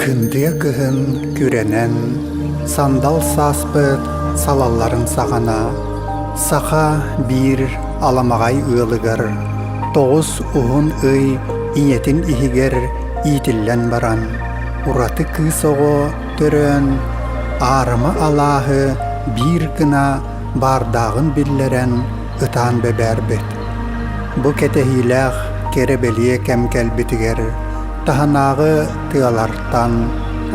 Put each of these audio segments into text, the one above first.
Кындыа кыһын күрэнэн сандал сааспыт салалларын саҕана саха биир аламаҕай ыалыгар тоҕус уһун ый ийэтин иһигэр иитиллэн баран ураты кыыс оҕо көрөн, аарыма алааһы биир гына баардааҕын биллэрэн ытаан бэбээрбит. Бу кэтэһиилээх кэрэ-бэлиэ кэм кэлбитигэр таһынааҕы тыалартан,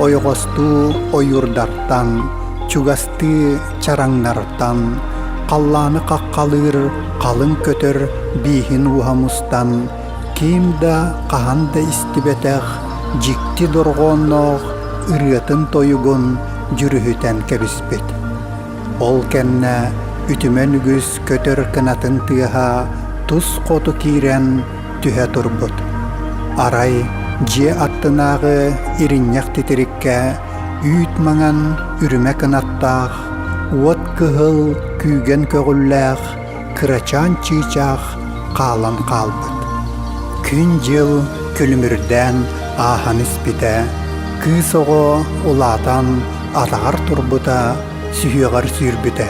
ойоҕостуу ойуурдартан, чугастыы чараҥнартан, халлааны хаххалыыр халыҥ көтөр бииһин ууһа мустан, ким да хаһан да истибэтэх дьикти дорҕоонноох ырыатын-тойугун дьүрүһүтэн кэбиспит. Ол кэннэ үтүмэн үгүс көтөр кынатын тыаһа тус хоту киирэн түһэ турбут. Арай дьиэ аттынааҕы иринньэх титириккэ үүт маҥан үрүмэ кынаттаах, уот кыһыл күүгэн көҕүллээх кырачаан чыычаах хаалан хаалбыт. Күн-дьыл күлүмүрдээн ааһан испитэ, кыыс оҕо улаатан атаҕар турбута, сүһүөҕэр сүүрбүтэ.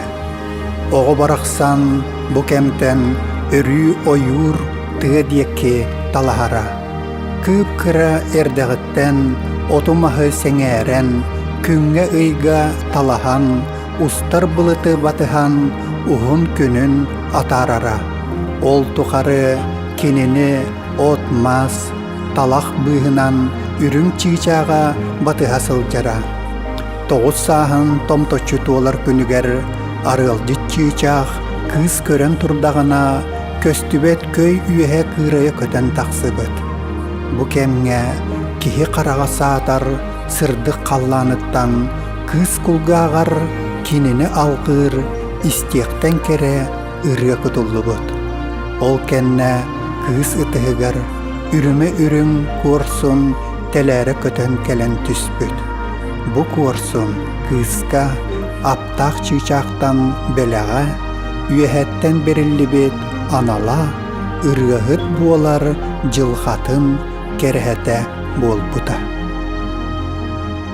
Оҕо барахсан бу кэмтэн өрүү ойуур тыа диэки талаһара. Кыып-кыра эрдэҕиттэн оту-маһы сэҥээрэн, күҥҥэ-ыйга талаһан устар былыты батыһан уһун күнүн атаарара. Ол тухары кинини от-мас, талах быыһынан үрүҥ чыычааҕа батыһа сылдьара. Тоҕус сааһын томточчу туолар күнүгэр арыалдьыт чыычаах кыыс көрөн турдаҕына көстүбэт көй үөһэ кыырайа көтөн тахсыбыт. Бу кэмҥэ киһи хараҕа саатар сырдык халлааныттан Кыыс кулгааҕар кинини алҕыыр истиэхтэн кэрэ ырыа кутуллубут. Ол кэннэ кыыс ытыһыгар үрүмэ үрүҥ куорсун тэлээрэ көтөн кэлэн түспүт. Бу куорсун кыыска аптаах чыычаахтан бэлэҕэ, үөһэттэн бэриллибит анала, ырыаһыт буолар дьылҕатын кэрэһэтэ буолбута.